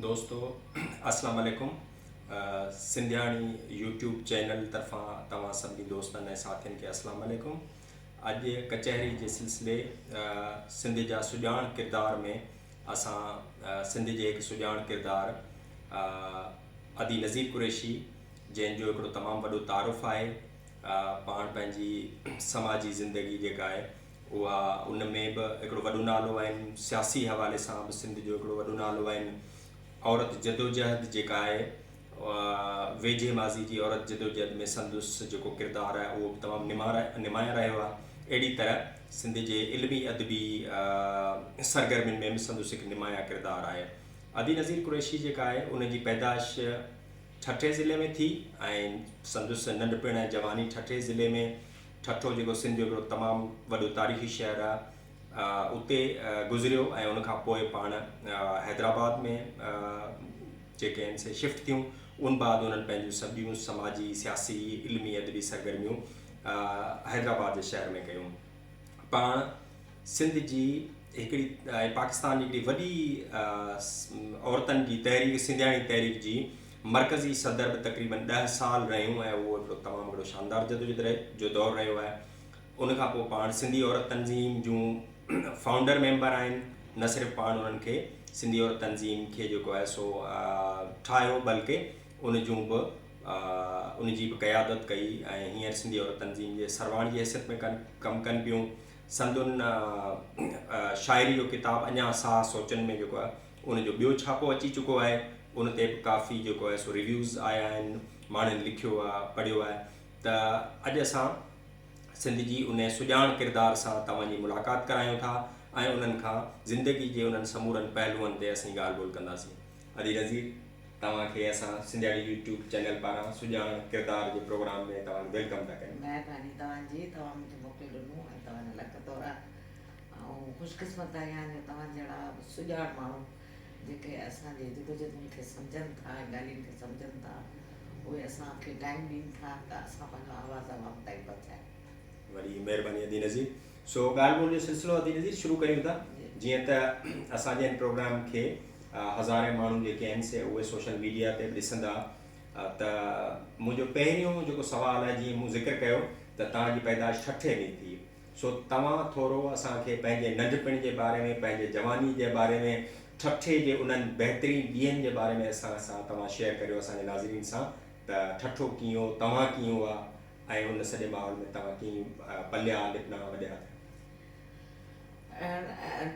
دوستو اسلام عليڪم سنڌياڻي يوٽيوب چينل طرفان توهان سڀني دوستن ۽ ساٿين کي اسلام عليڪم اڄ ڪچهري جي سلسلي سنڌ جا سڄاڻ ڪردار ۾ اسان سنڌ جي هڪ سڄاڻ ڪردار ادي نذير قريشي جنهن جو هڪڙو تمام وڏو تعارف آهي پاڻ پنهنجي سماجي زندگي جيڪا آهي اها ان ۾ به هڪڙو وڏو نالو آهن، سياسي حوالي سان به سنڌ جو هڪڙو وڏو نالو آهن. عورت جدوجهد جيڪا آهي ويجهي ماضي جي عورت جدوجهد ۾ سندس جيڪو ڪردار آهي اهو به تمام نمايان رهيو آهي. اهڙي طرح سنڌ جي علمي ادبي سرگرمين ۾ به سندس هڪ نمايان ڪردار آهي. ادي نظير قريشي جيڪا آهي ان جي پيدائش ٺٽي ضلعي ۾ ٿي ۽ سندس ننڍپڻ ۽ جواني ٺٽي ضلعي ۾ ٺٽو جيڪو سنڌ جو هڪڙو تمام وڏو تاريخي شهر آ اتي گذريو ۽ ان کان پوء پاڻ حيدرآباد ۾ جيڪي آهن سي شفٽ ٿيون ان بعد انهن پنهنجون سڀيون سماجي سياسي علمي ادبي سرگرميون حيدرآباد جي شهر ۾ ڪيون پاڻ سنڌ جي هڪڙي پاڪستان جي هڪڙي وڏي عورتن جي تحريڪ سنڌياڻي تحريڪ جي مرڪزي صدر به تقريبن ڏهه سال رهيون ۽ اهو هڪڙو تمام هڪڙو شاندار جدوجھد جو دور رهيو آهي ان کان پوء پاڻ سنڌي عورت تنظيم جون فائونڊر ميمبر آهن نه صرف پاڻ انهن کي سنڌي عورت تنظيم کي جيڪو آهي سو ٺاهيو بلڪه ان جون به ان جي به قيادت ڪئي ۽ هينئر سنڌي عورت تنظيم جي سرواڻ جي حيثيت ۾ ڪن ڪم ڪن پيون سندن شاعري جو ڪتاب اڃا ساهه سوچن ۾ جيڪو آهي ان جو ٻيو ڇاپو اچي چڪو آهي، ان تي به ڪافي جيڪو آهي سو ريويوز آيا آهن، ماڻهن لکيو آهي، پڙهيو آهي ته اڄ اسان سنڌ جي ان سڄاڻ ڪردار سان توهان جي ملاقات ڪرايون ٿا ۽ انهن کان زندگي جي انهن سمورن پهلوئن تي اسين ڳالهه ٻولهه ڪنداسين. ادي نظير توهان کي اسان سنڌياڻي يوٽيوب چينل پاران سڄاڻ ڪردار جي پروگرام ۾ توهان کي ويلڪم ٿا ڪريون. مهرباني توهان جي توهان مون کي موقعو ڏنو ۽ توهان جو لک ٿورا. آئون خوش قسمت آهيان جو توهان جهڙا سڄاڻ ماڻهو جيڪي اسان جي جدوجهدن کي سمجهن ٿا ۽ ڳالهين کي سمجهن ٿا اهي اسان کي ٽائيم ڏين ٿا ته اسان پنهنجو آواز عوام تائين پهچايون. وڏي مهرباني ادي نذير. سو ڳالهه ٻولهه جو سلسلو ادي نذير شروع ڪريون ٿا جيئن ته اسان جي هن پروگرام کي هزارين ماڻهو جيڪي آهن سي اهي سوشل ميڊيا تي به ڏسندا ته منهنجو پهريون جيڪو سوال آهي جيئن مون ذڪر ڪيو ته توهان جي پيدائش ٺٽي ۾ ٿي سو توهان ٿورو اسان کي پنهنجي ننڍپڻ جي باري ۾ پنهنجي جواني جي باري ۾ ٺٺي جي انهن بهترين ڏينهن جي باري ۾ اسان سان توهان شيئر ڪريو اسان جي ناظرين سان ته ٺٺو ڪيئن هو توهان ڪيئن هئا ۽ ان سڄي ماحول ۾ توهان ڪيئن پليا لپنا وڏيا ٿيا.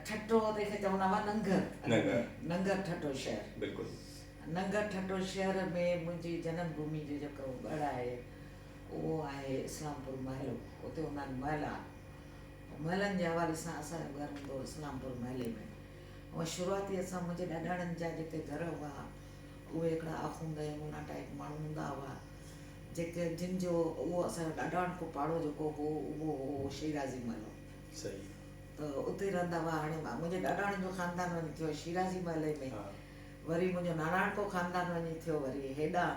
ٺٽو تنهن کي چوندا هئا ننگر ننگر ننگر ٺٽو شهر بلڪل ننگر ٺٽو شهر ۾ منهنجي جنم ڀومي جو جيڪو ڳڙ آهي اهو آهي اسلام پور محلو اتي هوندا آهن محلا ۽ محلن جي حوالي سان اسان جو گهر هوندو هو اسلام پور محلي ۾ هونئن شروعاتي اسان منهنجي ڏاڏاڻين جا جيڪي گهر هئا اهي هڪڙا آخوند ۽ مونا ٽائيپ ماڻهو هوندا هئا جيڪي جن جو اهو اسان جو ڏاڏاڻڪو پاڙو جيڪو هو اهو هو شيرازي محلو صحيح ته اتي رهندا هئا هاڻي منهنجي ڏاڏاڻين جو خاندان وڃي ٿيو شيرازي محلي ۾ وري منهنجو ناناڻڪو خاندان وڃي ٿيو وري هيڏانهن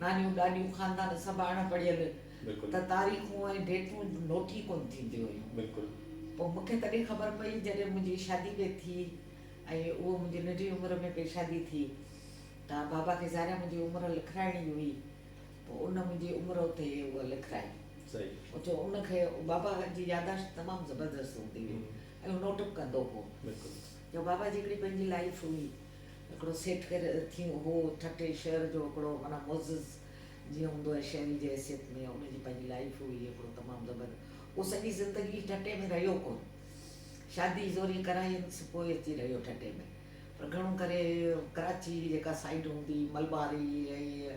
نانيون ڏاڏيون خاندان سڀ اڻ پڙهيل ته تاريخون ۽ ڊيٽون نوٽ ئي ڪونه ٿينديون هيون. پوء مون کي تڏهن خبر پئي جڏهن منهنجي شادي به ٿي ۽ اهو منهنجي ننڍي عمر ۾ پئي شادي ٿي ته بابا کي ظاهر آهي منهنجي عمر لکرائڻي ئي هئي پوء ان منهنجي عمر اتي اها لکرائي اتي ان کي بابا جي ياداشت تمام زبردست هوندي هئي ۽ هو نوٽ به ڪندو هو ته بابا جي هڪڙي پنهنجي لائيف هئي هڪڙو سيٺ ڪير ٿي هو ٺٽي شهر جو هڪڙو معنيٰ معزز جيئن هوندو آهي شهري جي حيثيت ۾ ان جي پنهنجي لائيف هئي هڪڙو تمام زبر اهو سڄي زندگي ٺٽي ۾ رهيو ڪون شادي زوري ڪراينس پوء اچي رهيو ٺٽي ۾ پر گهڻو ڪري ڪراچي جيڪا سائيڊ هوندي ملباري ۽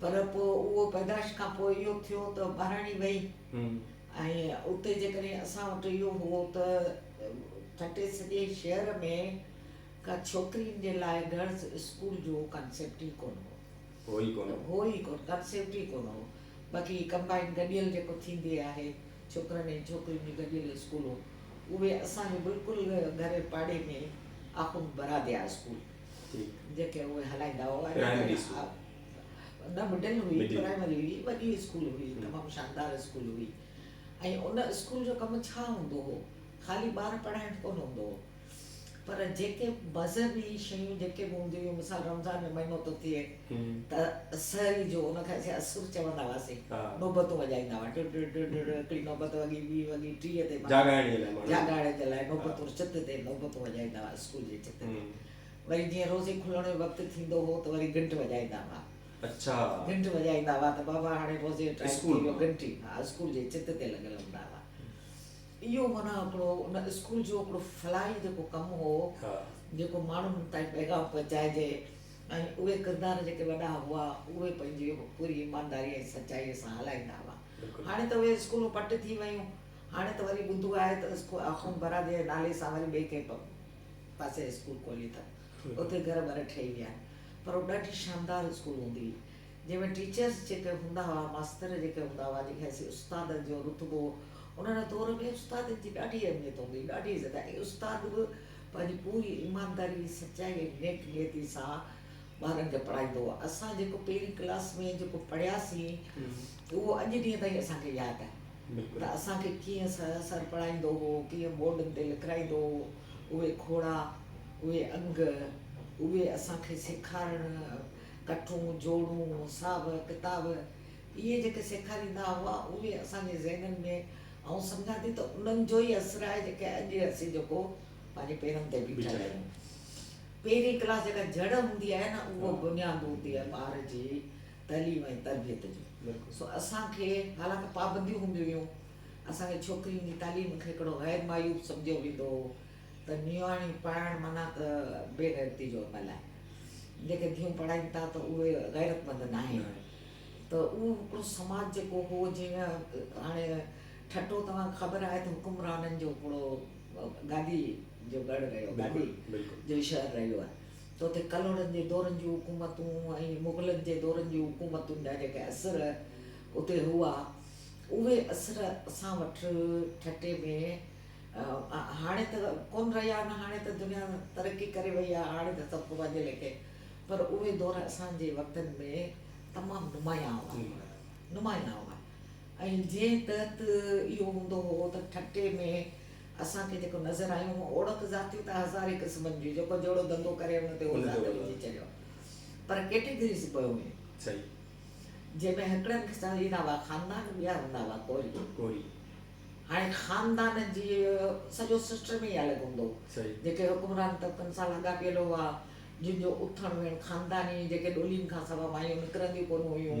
پر پوء اهو پيدائش کان پوء اهو ٿيو ته ٻهراڙي وئي ۽ اتي جيڪڏهن اسان وٽ اهو هو ته ٺٽي سڄي شهر ۾ ڪا ڇوڪرين جي لاء گرلز اسڪول جو ڪانسيپٽ ئي ڪونه هو. هو ئي ڪونه هو. هو ئي ڪونه، ڪانسيپٽ ئي ڪونه هو. باقي هي ڪمبائن گڏيل جيڪو ٿيندي آهي ڇوڪرن ۽ ڇوڪرين جون گڏيل اسڪولون اهي اسان جي بلڪل گهري پاڙي ۾ آخوند براديا اسڪول. جيڪي اهي هلائيندا هئا پرائمري اسڪول نه مڊل هئي پرائمري هئي وڏي اسڪول هئي تمام شاندار اسڪول هئي ۽ ان اسڪول جو ڪم ڇا هوندو هو خالي ٻار پڙهائڻ ڪونه هوندو هو پر جيڪي مذهبي شيون جيڪي به هونديون هيون مثال رمضان ۾ مهينو ٿو ٿئي ته سحري جو ان کي اسين اسر چوندا هئاسين نوبتون وڄائيندا هئا ڊڙ ڊڙ ڊڙ ڊڙ هڪڙي نوبت وڳي ٻي وڳي ٽيهه تي جاڳائڻ جي لاء جاڳائڻ جي لاء نوبتون چت تي نوبتون وڄائيندا هئاسين اسڪول جي ڇت ۾ وري جيئن روزي کلڻ جو وقت ٿيندو هو ته وري گهنٽ وڄائيندا هئا. اڇا. گهنٽ وڄائيندا هئا ته بابا هاڻي روزي جو ٽائيم ٿي اسڪول ويو مان. گهنٽي ها اسڪول جي ڇت تي لڳل هوندا هئا. اهو معنيٰ هڪڙو ان اسڪول جو هڪڙو فلاحي جيڪو ڪم هو ها. جيڪو ماڻهن تائين پيغام پهچائجي ۽ اهي ڪردار جيڪي وڏا هئا اهي پنهنجي پوري ايمانداري ۽ سچائيء سان هلائيندا هئا. بلڪل. هاڻي ته اهي اسڪولون پٽ ٿي ويون. هاڻي ته وري ٻڌو آهي ته اسڪول آخوند برادريء جي نالي سان وري ٻئي ڪنهن پاسي اسڪول کولي اٿن. اتي گهر ٻر ٺهي ويا آهن. پر اهو ڏاڍي شاندار اسڪول هوندي هئي. جنهن ۾ ٽيچرس جيڪي هوندا هئا، ماستر جيڪي هوندا هئا، جن کي اسين استادن جو رتبو هو، انهن جو دور ۾ استادن جي ڏاڍي اهميت هوندي هئي، ڏاڍي عزت ۽ استاد به پنهنجي پوري ايمانداري، سچائي ۽ نيڪ نيتي سان ٻارن کي پڙهائيندو هو. اسان جيڪو پهرين ڪلاس ۾ جيڪو پڙهياسين اهو اڄ ڏينهن تائين اسان کي ياد آهي. ته اسان کي ڪيئن سر پڙهائيندو هو، ڪيئن بورڊن تي لکرائيندو هو، اهي کوڙا، اهي انگ، اهي اسان کي سيکارڻ، ڪٺون، جوڙون، حساب، ڪتاب، اهي جيڪي سيکاريندا هئا، اهي اسان جي ذهنن ۾ آئون سمجهان ٿي ته انهن جو ئي اثر آهي جيڪي اڄ اسين جيڪو پنهنجي پيرن تي بيٺل آهيون. پهرين ڪلاس جيڪا جڙ هوندي آهي نه اها بنياد هوندي آهي ٻار جي. تعليم ۽ تربيت جون سو اسان کي حالانڪ پابنديون هونديون هيون اسان کي ڇوڪرين جي تعليم کي هڪڙو غير معيوب سمجهيو ويندو هو ته نياڻيون پڙهائڻ معنيٰ ته بي غيرتي جو عمل آهي جيڪي ڌيئون پڙهائين ٿا ته اهي غيرت مند ناهن ته اهو هڪڙو سماج جيڪو هو جنهن هاڻي ٺٽو توهان کي خبر آهي ته حڪمرانن جو هڪڙو گادي جو ڳڙهه رهيو گادي جو شهر رهيو آهي تو تي ڪلهوڙن جي دورن جون حڪومتون ۽ مغلن جي دورن جون حڪومتن جا جيڪي اثر اتي هئا، اهي اثر اسان وٽ ٺٽي ۾ هاڻي ته ڪونه رهيا آهن، هاڻي ته دنيا ترقي ڪري وئي آهي، هاڻي ته سڀ ڪو پنهنجي ليکي، پر اهي دور اسان جي وقتن ۾ تمام نمايان هئا، نمايان هئا ۽ جنهن تحت اهو هوندو هو ته ٺٽي ۾ اسان کي جيڪو نظر آيون هون اوڙڪ ذاتيون ته هزارين قسمن جون جيڪو جهڙو ڌنڌو ڪري ان تي هو ذات وجهي ڇڏيو پر ڪيٽيگريز پيو هئين جنهن ۾ هڪڙن کي چوندا ايندا هئا خاندان ٻيا هوندا هئا ڪوري هاڻي خاندان جي سڄو سسٽم ئي الڳ هوندو هو جيڪي حڪمران طبقن سان لاڳاپيل هئا جن جو اٿڻ ويهڻ خانداني جيڪي ڏولين کان سوا مايون نڪرنديون ڪونه هيون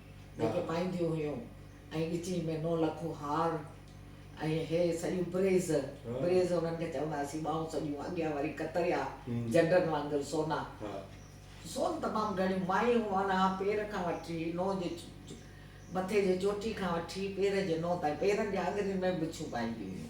جيڪي پائينديون هيون ۽ ڳچيء ۾ نو لکو هار ۽ هي سڄيون بريز، بريز انهن کي چوندا هئاسين، ٻانهون سڄيون، اڳيان وري ڪتريا، جنڊن وانگر سونا، سون تمام گهڻيون، مايون معنيٰ پير کان وٺي نو جي مٿي جي چوٽي کان وٺي پير جي نو تائين، پيرن جي آڱرين ۾ به ٻڇون پائينديون هيون.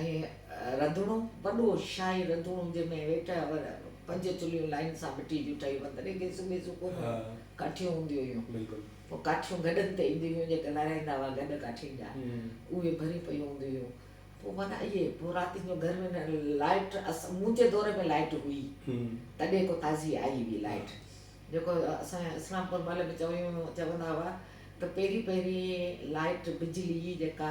۽ رڌڻو، وڏو شاهي رڌڻو جنهن ۾ ويٺل هئا پنج چلهيون لائين سان مٽي جون ٺهيل هئا تڏهن گيسون ويسون ڪونه هيون ڪاٺيون هونديون هيون پوء ڪاٺيون گڏن تي اينديون هيون جيڪي لارائيندا هئا گڏ ڪاٺين جا اهي ڀريون پيون هونديون هيون پوء معنيٰ اهي پوء راتين جو گرمين ۾ لائيٽ مون جي دور ۾ لائيٽ هئي تڏهن ڪو تازي آئي هئي لائيٽ جيڪو اسان اسلام پور محلي ۾ چويون چوندا هئا ته پهرين پهرين لائيٽ بجلي جيڪا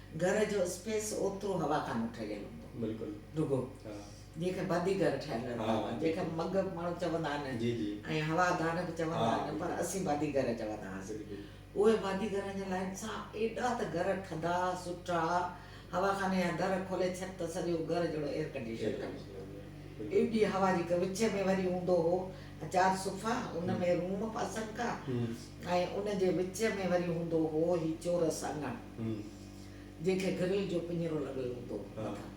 گهر جو اسپيس اوترو هوا کان ٺهيل هوندو بلڪل رڳو جنهن کي بدي گهر ٺهيل هوندا جنهن کي مڳ ماڻهو چوندا آهن ۽ هوا دان به چوندا آهن پر اسين بدي گهر چوندا هئاسين اهي بدي گهرن جي لائن سان ايڏا ته گهر ٺندا سٺا هوا خاني جا در کولي ڇڏ ته سڄو گهر جهڙو ايئر ڪنڊيشن لڳو هوندو ايڏي هوا جي وچ ۾ وري هوندو هو چار صفا ان ۾ روم پاسن کا ۽ ان جي وچ ۾ وري هوندو هو هي چورس اڱڻ جنهن کي گرل جو پڃرو لڳل هوندو هو، مٿان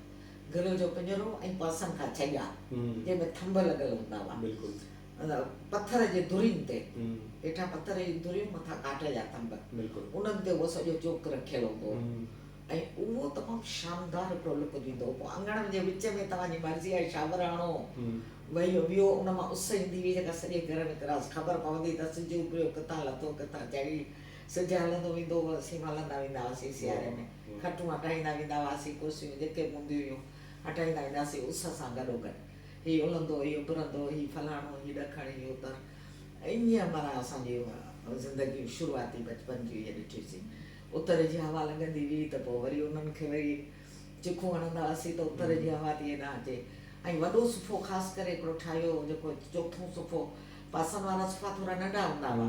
گرل جو پڃرو ۽ پاسن کان ڇڄا، جنهن ۾ ٿنڀ لڳل هوندا هئا، پٿر جي درين تي، هيٺان پٿر جون دريون مٿان ڪاٺ جا ٿنڀ، انهن تي اهو سڄو چوڪ رکيل هوندو هو ۽ اهو تمام شاندار هڪڙو لڪ ڏيندو هو، پوء اڱڻ جي وچ ۾ توهان جي مرضي جا شاور هڻو، وهيو ويهو، ان مان اس ايندي هئي جيڪا سڄي گهر ۾ ڪراس، خبر پوندي ته سج اڀريو، ڪٿان لٿو، ڪٿان چڙهي. سج هلندو ويندو هو اسين به هلندا ويندا هئاسين سياري ۾ کٽون هٽائيندا ويندا هئاسين ڪرسيون جيڪي به هونديون هيون هٽائيندا ويندا هئاسين اس سان گڏو گڏ هي الهندو هي اڀرندو هي فلاڻو هي ڏکڻ هي اتر ائين معنيٰ اسان جي زندگي شروعاتي بچپن جون اهي ڏٺيوسين اتر جي هوا لڳندي هئي ته پوء وري انهن کي وري چکون هڻندا هئاسين ته اتر جي هوا ٿي هيڏانهن اچي ۽ وڏو صفحو خاص ڪري هڪڙو ٺاهيو هو جيڪو چوٿون صفحو پاسن وارا صفحا ٿورا ننڍا هوندا هئا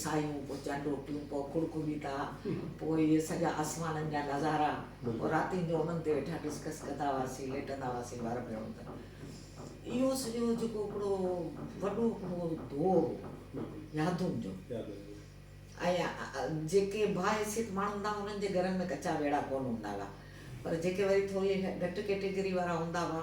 سايون، پوء چئن روٽيون، پوء کڙ کڙيتا، پوء اهي سڄا آسمانن جا نظارا، پوء راتين جو انهن تي ويٺا ڊسڪس ڪندا هئاسين، ليٽندا هئاسين ٻار ۾ هون ته. اهو سڄو جيڪو هڪڙو وڏو هڪڙو دور هو يادن جو ۽ جيڪي باحيثيت ماڻهو هوندا هئا انهن جي گهرن ۾ ڪچا ويڙها ڪونه هوندا هئا پر جيڪي وري ٿوري گهٽ ڪيٽيگري وارا هوندا هئا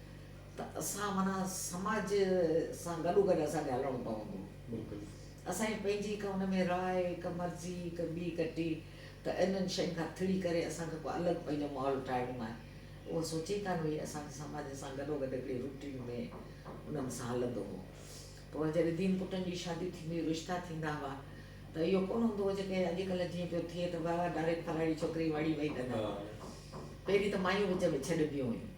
ته اسان معنيٰ سماج سان گڏوگڏ اسان کي هلڻو پوندو. بلڪل. اسان جي پنهنجي ڪا ان ۾ راء، ڪا مرضي، ڪا ٻي ڪٽي ته انهن شين کان ٿڙي ڪري اسان کي ڪو الڳ پنهنجو ماحول ٺاهڻو آهي. اهو سوچي ڪانه هئي. اسان جو سماج سان گڏوگڏ هڪڙي روٽين ۾ انهن سان هلندو هو. پر جڏهن ڌين پٽن جي شادي ٿيندي هئي، رشتا ٿيندا هئا ته اهو ڪونه هوندو هو جيڪي اڄڪلهه جيئن پيو ٿئي ته واهه واهه ڊائريڪٽ فلاڻي ڇوڪري واڙي وئي ڪندا هئا. پهرين ته مايون وچ ۾ ڇڏبيون هيون.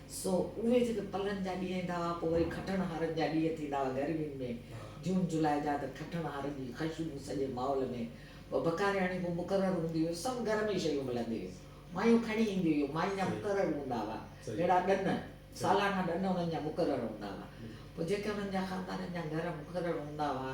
سو اهي جيڪي پلن جا ڏينهن ايندا هئا، پوء وري کٽڻ هارن جا ڏينهن ٿيندا هئا گرمين ۾، جون جولاء جا ته کٽڻ هارن جي خوشبو سڄي ماحول ۾، ٻه بڪارياڻيون به مقرر هونديون هيون، سڀ گهر ۾ شيون ملنديون هيون، مايون کڻي اينديون هيون، ماين جا مقرر هوندا هئا، جهڙا ڏن، سالانا ڏن انهن جا مقرر هوندا هئا، پوء جيڪي انهن جا خاندانن جا گهر مقرر هوندا هئا.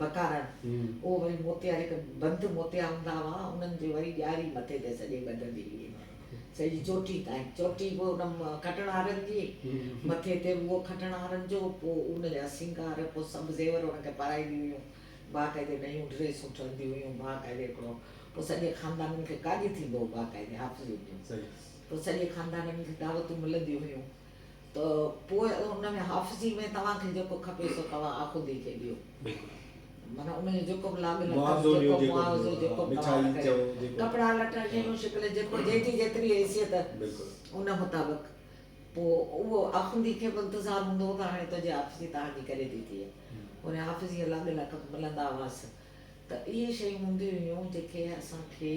بکارڻ، اهو وري موتيار هڪ بند موتيا هوندا هئا، انهن جي وري ڄاري مٿي تي سڄي ٻڌندي هئي، سڄي چوٽي تائين، چوٽي به ان کٽڻهارن جي، مٿي تي به اهو کٽڻهارن جو، پوء ان جا سينگار، پوء سڀ زيور ان کي پارائينديون هيون، باقاعدي نيون ڊريسون ٺهنديون هيون، باقاعدي هڪڙو، پوء سڄي خاندانن کي ڪاڄ ٿيندو هو باقاعدي حافظين جو، پوء سڄي خاندانن کي دعوتون ملنديون هيون، ته پوء ان ۾ حافظي ۾ توهان کي جيڪو کپي سو توهان آخوندي کي ڏيو. معنيٰ ان جو جيڪو به لاڳ لڳ جيڪو به معاوضو جيڪو به توهان کي ڪري ڪپڙا لٽا شيون شڪل جيڪو جنهن جي جيتري حيثيت ان مطابق پوء اهو آخوندي کي به انتظار هوندو هو ته هاڻي تنهنجي حافظي توهان جي ڪري ڏتي آهي. ان حافظي جا لاڳ لڳ ملندا هئس ته اهي شيون هونديون هيون جيڪي اسان کي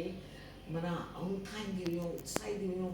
معنيٰ اونٿائينديون هيون اتساهينديون هيون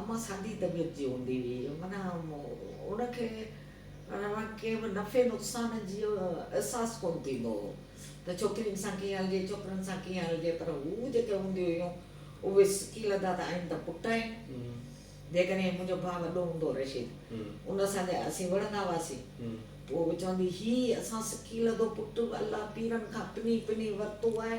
امان سادي طبيعت جي هوندي هئي، معنيٰ ان کي ڪنهن به نفعي نقصان جي احساس ڪونه ٿيندو هو ته ڇوڪرين سان ڪيئن هلجي، ڇوڪرن سان ڪيئن هلجي، پر هو جيڪي هونديون هيون اهي سڪي لڌا ته آهن ته پٽ آهن. جيڪڏهن منهنجو ڀاء وڏو هوندو هو رشيد، ان سان جي اسين وڙهندا هئاسين، پوء هوء چوندي هي اسان سڪي لڌو پٽ الله پيرن کان پني پني ورتو آهي،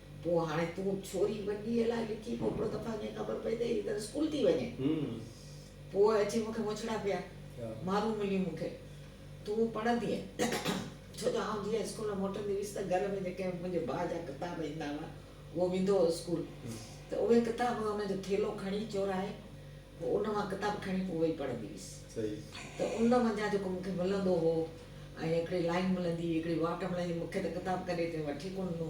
پوء هاڻي تون ڇوري ٻنيء لاء لکي پوپڙو ته پنهنجي کي خبر پئي ته هي ته اسڪول ٿي وڃي. پوء اچي مون کي مڇڙا پيا. مارون مليون مون کي. تون پڙهندينء. ڇو جو آئون جيئن اسڪول مان موٽندي هيس ته گهر ۾ جيڪي منهنجي ڀاء جا ڪتاب ايندا هئا، اهو ويندو هو اسڪول ته اهي ڪتاب ان جو ٿيلهو کڻي چورائي پوء ان مان ڪتاب کڻي پوء ويهي پڙهندي هيس ته ان منجهان جيڪو مون کي ملندو هو ۽ هڪڙي لائين ملندي هئي، هڪڙي واٽ ملندي هئي، مون کي ته ڪتاب ڪڏهن ڪنهن وٺي ڪونه ڏنو.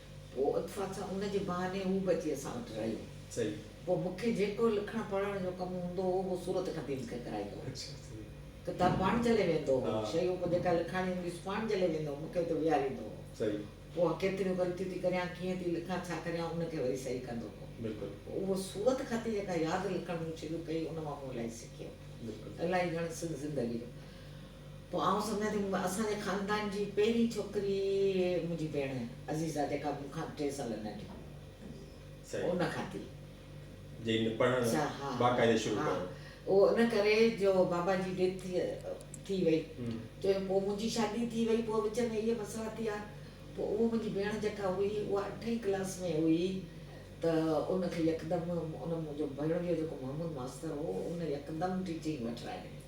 پوء اتفاق سان ان جي بهاني هو به اچي اسان وٽ رهيو. پوء مون کي جيڪو لکڻ پڙهڻ جو ڪم هوندو هو، اهو صورت کپي مون کي ڪرائيندو هو. ڪتاب پاڻ جهلي ويهندو هو. شيون به جيڪا لکاڻي هوندي هيس، پاڻ جهلي ويهندو هو، مون کي اتي ويهاريندو هو. پوء ڪيتريون غلطيون ٿي ڪريان، ڪيئن ٿي لکان، ڇا ڪريان، ان کي وري صحيح ڪندو هو. پوء اهو صورت خطي جيڪا ياد لکڻ مون شروع ڪئي، ان مان مون الائي سکيو. الائي گهڻ سنڌ زندگي جو. پوء آئون سمجهان ٿي اسان جي خاندان جي پهرين ڇوڪري منهنجي ڀيڻ عزيزه جيڪا مون کان ٽي سال ننڍي هئي ان کان ٿي. جنهن نه پڙهڻ باقاعدي شروع ڪيو. اهو ان ڪري جو بابا جي ڊيٿ ٿي ٿي وئي چون جو پوء منهنجي شادي ٿي وئي پوء وچ ۾ اهي مسئلا ٿيا پوء اهو منهنجي ڀيڻ جيڪا هئي اها اٺين ڪلاس ۾ هئي ته ان کي يڪدم ان منهنجو ڀيڻ جو جيڪو محمود ماستر هو ان يڪدم ٽيچنگ وٺرائي ڏني.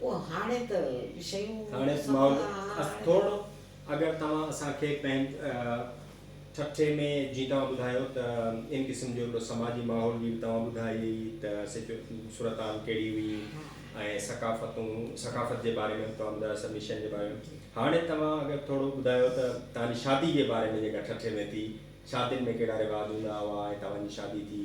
پوء هاڻي ته شيون سمجهه آهن. اگر توهان اسان کي پنهنج ٺٺي ۾ جي توهان ٻڌايو ته ان قسم جو هڪڙو سماجي ماحول جي به توهان ٻڌائي هئي ته سچ صورتحال ڪهڙي هئي ۽ ثقافتون ثقافت جي باري ۾ به توهان ٻڌايو سڀني شين جي باري ۾ هاڻي توهان اگر ٿورو ٻڌايو ته توهان جي شادي جي باري ۾ جيڪا ٺٺي ۾ ٿي شادين ۾ ڪهڙا رواج هوندا هئا ۽ توهان جي شادي ٿي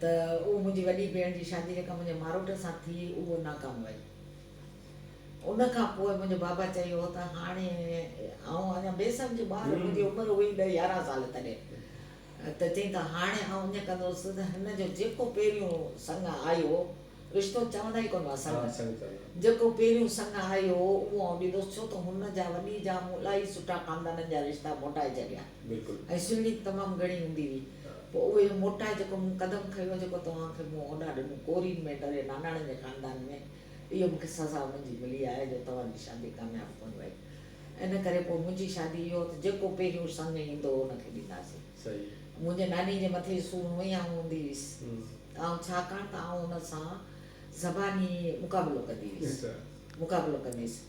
ته اهو منهنجي وڏي ڀيڻ جي شادي جيڪا منهنجي ماروٽ سان ٿي اهو ناڪام وئي. ان کان پوء منهنجي بابا چيو ته هاڻي آئون اڃا بي سمجهه ٻار منهنجي عمر هئي ڏهه يارهن سال تڏهن ته چئين ته هاڻي آئون ائين ڪندوس ته هن جو جيڪو پهريون سڱ آيو رشتو چوندا ئي ڪونه هئا سڱ جيڪو پهريون سڱ آيو هو اهو آئون ڏيندوس ڇو ته هن جا وڏي جا مون الاهي سٺا خاندانن جا رشتا موٽائي ڇڏيا. بلڪل. ۽ سهڻي به تمام گهڻي هوندي هئي. پوء اهو اهو موٽائي جيڪو مون قدم کنيو جيڪو توهان کي مون هوڏانهن ڏنو ڪورين ۾ ڊري ناناڻن جي خاندان ۾ اهو مون کي سزا انهن جي ملي آهي جو توهان جي شادي ڪامياب ڪونه وئي ان ڪري پوء منهنجي شادي اهو ته جيڪو پهريون سڱ ايندو هو ان کي ڏينداسين. صحيح. منهنجي ناني جي مٿي جي سونهن هئي آئون هوندي هيس آئون ڇاڪاڻ ته آئون ان سان زباني مقابلو ڪندي هيس مقابلو ڪندي هيس.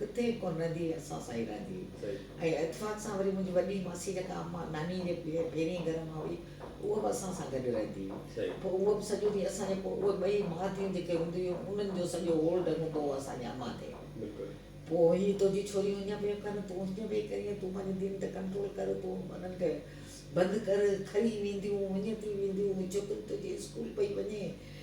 ڪٿي ڪو نه ڌيء اسان سان ئي رهندي هئي ۽ اتفاق سان وري منهنجي وڏي ماسي جيڪا امان ناني جي پهرين گهر مان هئي اها به اسان سان گڏ رهندي هئي پوء اها به سڄو ڏينهن اسان جي پوء اهي ٻئي ماء ڌيئون جيڪي هونديون هيون انهن جو سڄو هول ڍڳ هوندو هو اسان جي امان تي پوء هي تنهنجي ڇوريون هيئن پيون ڪن تون هيئن پئي ڪرين تون پنهنجي ڌيئن تي ڪنٽرول ڪر تون انهن کي بند ڪر کري وينديون هيئن ٿي وينديون هي ڇوڪري تنهنجي اسڪول پئي وڃي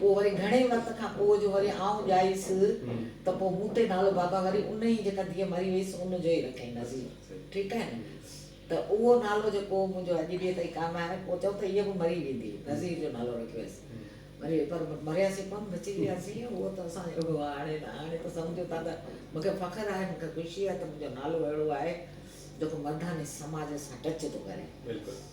پوء وري گهڻي وقت کان پوء جو وري آئون ڄائيس ته پوء مون تي نالو بابا وري ان ئي جيڪا ڌيء مري ويس ان جو ئي رکيائين نظير ٺيڪ آهي نه ته اهو نالو جيڪو منهنجو اڄ ڏينهن تائين ڪائم آهي پوء چئون ته هيء به مري ويندي نظير جو نالو رکي ويس مري وئي پر مرياسين ڪونه بچي وياسين اهو ته اسان جو هاڻي نه هاڻي ته سمجهو ٿا ته مون کي فخر آهي مون کي خوشي آهي ته منهنجو نالو اهڙو آهي جيڪو مرداني سماج سان ٽچ ٿو ڪري.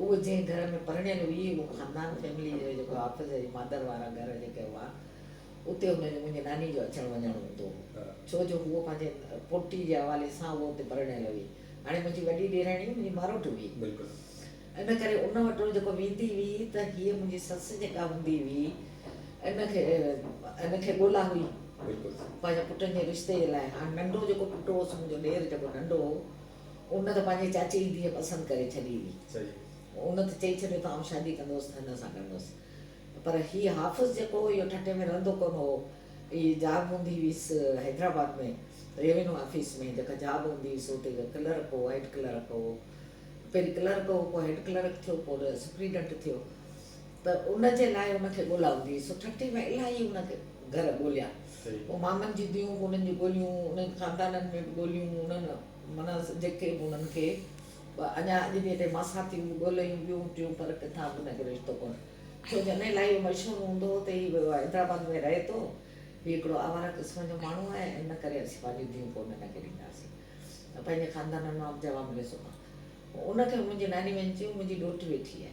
اهو جنهن گهر ۾ پرڻيل هئي اهو خاندان فيملي جو جيڪو حافظ جي مادر وارا گهر جيڪي هئا اتي هن جو منهنجي ناني جو اچڻ وڃڻ هوندو هو ڇو جو هوء پنهنجي پوٽي جي حوالي سان اها اتي پرڻيل هئي هاڻي منهنجي وڏي ڏيرڻي منهنجي ماروٽ هئي ان ڪري ان وٽ هوء جيڪو ويندي هئي ته هيء منهنجي سس جيڪا هوندي هئي ان کي ان کي ڳولا هئي پنهنجي پٽن جي رشتي جي لاء هاڻ ننڍو جيڪو پٽ هوس منهنجو ڏير جيڪو ننڍو هو ان ته پنهنجي چاچي جي ڌيء پسند ڪري ڇڏي هئي. ان ته چئي ڇڏيو ته آئون شادي ڪندوس ته هن سان ڪندوس. پر هي حافظ جيڪو هو اهو ٺٽي ۾ رهندو ڪونه هو. هي جاب هوندي هيس حيدرآباد ۾ ريونيو آفيس ۾ جيڪا جاب هوندي هيس اتي هڪ ڪلرڪ هو هيڊ ڪلرڪ هو. پهرين ڪلرڪ هو پوء هيڊ ڪلرڪ ٿيو پوء سپريڊنٽ ٿيو. ته ان جي لاء ان کي ڳولاوندي هئي، سو ٺٽي ۾ الاهي ان کي گهر ڳوليا. پوء مامن جي ڌيئون به انهن جون ڳوليون، انهن خاندانن ۾ به ڳوليون، انهن معنيٰ جيڪي به انهن کي به اڃا اڄ به هتي ماساتيون به ڳوليون ٻيون ٽيون پر ڪٿان به انهن کي رشتو ڪونه ٿيو، جڏهن لاء اهو مشهور هوندو هو ته هي ويو آهي حيدرآباد ۾ رهي ٿو، هي هڪڙو آواره قسم جو ماڻهو آهي ۽ ان ڪري اسين پنهنجون ڌيئون ڪونه هن کي ڏينداسين. پنهنجي خاندانن مان به جواب مليو سو ڪا ان کي منهنجي ناني وڃي چيو منهنجي ڏوهٽ ويٺي آهي.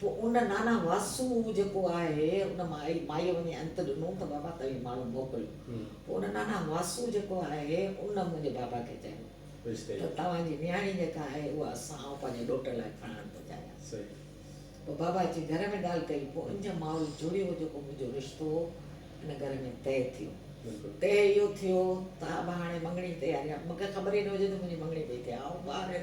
پوء ان نانا واسو جيڪو آهي ان مائيء وڃي انت ڏنو ته بابا توهين ماڻهو موڪليو. پوء ان نانا واسو جيڪو آهي ان منهنجي بابا کي چيو ته توهان جي نياڻي جيڪا آهي اها اسان آئون پنهنجي ڏوٽ لاء کڻڻ ٿو چاهيان. پوء بابا اچي گهر ۾ ڳالهه ڪئي. پوء ان جي مائل جڙيو جيڪو منهنجو رشتو هو ان گهر ۾ طئي ٿيو. طئي اهو ٿيو ته ابا هاڻي مڱڻي جي تياري آهي. مونکي خبر ئي نه هجي ته منهنجي مڱڻي پئي ٿئي. آئون ٻاهر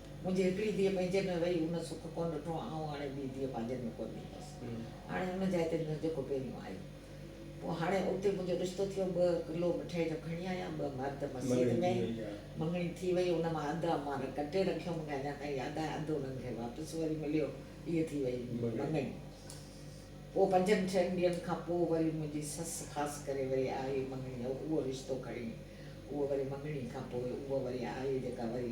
منهنجي هڪڙي ڌيء پنهنجن ۾ وئي ان سک ڪونه ڏٺو آئون هاڻي ٻي ڌيء پنهنجن ۾ ڪونه ڏيندس هاڻي ان جاء تي ڏيندس جيڪو پهريون آيو پوء هاڻي اتي منهنجو رشتو ٿيو ٻه ڪلو مٺائي جو کڻي آيا ٻه مرد مسيت ۾ مڱڻي ٿي وئي ان مان اڌ امان ڪٽي رکيو مونکي اڃا تائين ياد آهي اڌ انهن کي واپس وري مليو هيء ٿي وئي مڱڻي پوء پنجن ڇهن ڏينهن کان پوء وري منهنجي سس خاص ڪري وري آئي مڱڻي اهو رشتو کڻي اهو وري مڱڻي کان پوء اهو وري آئي جيڪا وري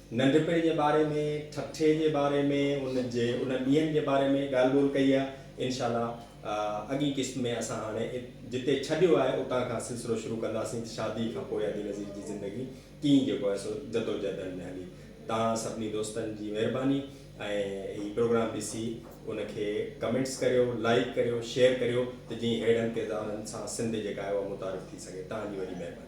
ننڍپڻ جي باري ۾ ٺٽي جي باري ۾ ان جي انهن ڏينهن جي باري ۾ ڳالهه ٻولهه ڪئي آهي انشاء الله اڳئين قسط ۾ اسان هاڻي جتي ڇڏيو آهي اتان کان سلسلو شروع ڪنداسين ته شادي کان پوء ادي نذير جي زندگي ڪيئن جيڪو آهي سو جدوجهدن ۾ هلي توهان سڀني دوستن جي مهرباني ۽ هي پروگرام ڏسي ان کي ڪمينٽس ڪريو لائيڪ ڪريو شيئر ڪريو ته جئين ههڙن ڪردارن سان سنڌ جيڪا آهي اها متعارف ٿي سگهي توهان جي وڏي مهرباني.